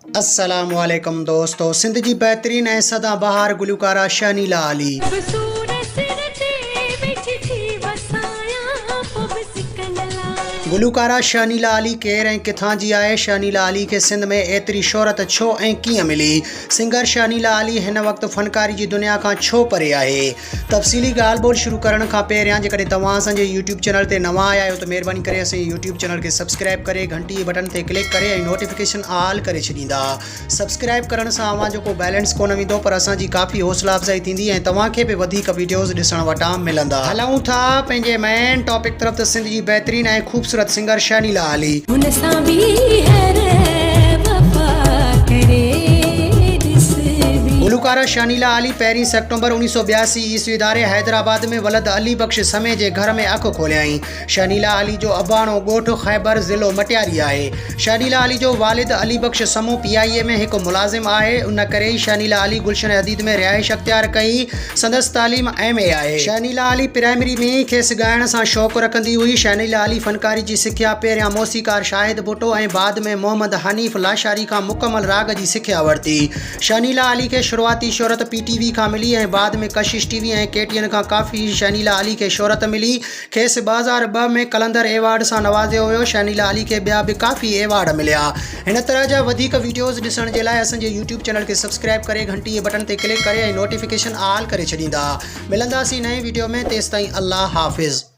السلام عليڪم دوستو سنڌ جي بهترين ۽ سدا بهار گلوڪاره شهنيلا علي. به سور سر تي ويٺي ٿي وسايان پو به سڪندلان. گلوڪاره شهنيلا علي ڪير ۽ ڪٿان جي آهي؟ شهنيلا علي کي سنڌ ۾ ايتري شهرت ڇو ۽ ڪيئن ملي؟ سنگر شهنيلا علي هن وقت فنڪاري جي دنيا کان ڇو پري آهي؟ تفصيلي ڳالهه ٻولهه شروع ڪرڻ کان پهريان جيڪڏهن توهان اسان جي يوٽيوب چينل تي نوان آيا آهيو ته مهرباني ڪري اسان جي يوٽيوب چينل کي سبسڪرائب ڪري گهنٽي جي بٽن تي ڪلڪ ڪري ۽ نوٽيفڪيشن آل ڪري ڇڏيندا سبسڪرائب ڪرڻ سان اوهان جو ڪو بيلنس ڪونه ويندو پر اسان جي ڪافي حوصلا افزائي ٿيندي ۽ توهان کي به وڌيڪ ويڊيوز ڏسڻ وٽان ملندا. هلون ٿا پنهنجي مين ٽاپڪ طرف ته سنڌ جي بهترين ۽ خوبصورت سنگر شهنيلا علي. هن سان به هر وفا ڪري ڏس بي. گلوڪاره شهنيلا علي پهرين سيڪٽر. نومبر اوڻيھ سؤ ٻياسي عيسوي ڌاري حيدرآباد ۾ ولد علي بخش سمي جي گهر ۾ اک کوليائين. شهنيلا علي جو اباڻو ڳوٺ خيبر، ضلعو مٽياري آهي. شهنيلا علي جو والد Ali Bakhsh Samo P I A ۾ هڪ ملازم آهي. ان ڪري ئي شهنيلا علي گلشن حديد ۾ رهائش اختيار ڪئي. سندس تعليم ايم اي آهي. شهنيلا علي پرائمري ۾ ئي کيس ڳائڻ سان شوق رکندي هئي. شهنيلا علي فنڪاري جي سکيا پهريان موسيقار شاهد ڀٽو ۽ بعد ۾ محمد حنيف لاشاري کان مڪمل راڳ جي سکيا ورتي. شهنيلا علي کي شروعاتي شهرت پي ٽي وي کان ملي ۽ بعد ۾ Kashish T V ۽ K T N کان ڪافي شهنيلا علي کي شهرت ملي. کيس ٻه هزار ٻه ۾ قلندر ايوارڊ سان نوازيو ويو. شهنيلا علي کي ٻيا به ڪافي ايوارڊ مليا. هن طرح جا وڌيڪ وڊيوز ڏسڻ جي لاء اسان جي يوٽيوب چينل کي سبسڪرائب ڪري گهنٽي جي بٽڻ تي ڪلڪ ڪري ۽ نوٽيفڪيشن آل ڪري ڇڏيندا. ملنداسين نئين وڊيو ۾ تيستائين الله حافظ.